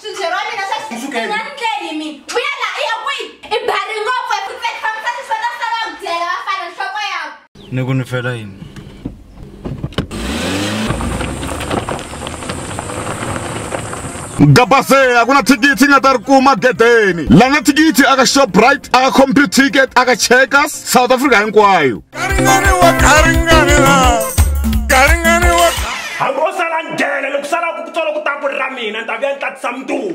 swibye ra mina swa Ku sukela. nga ni tleli mi vuya la i ya kwihi i bari ngopfu eku tleli fambisa ni swona sala ku dyela vafana nhloko yako ni ku ni fela yini gabase a ku na thikithi i nga ta ri kuma gedeni la na thikithi aka shoprite aka compute ticket aka checkers south africa hinkwayo hambi o sala njhele loko sala ku tsolo ku ta ku ri ra mina ni ta vuya ni tatisa muduku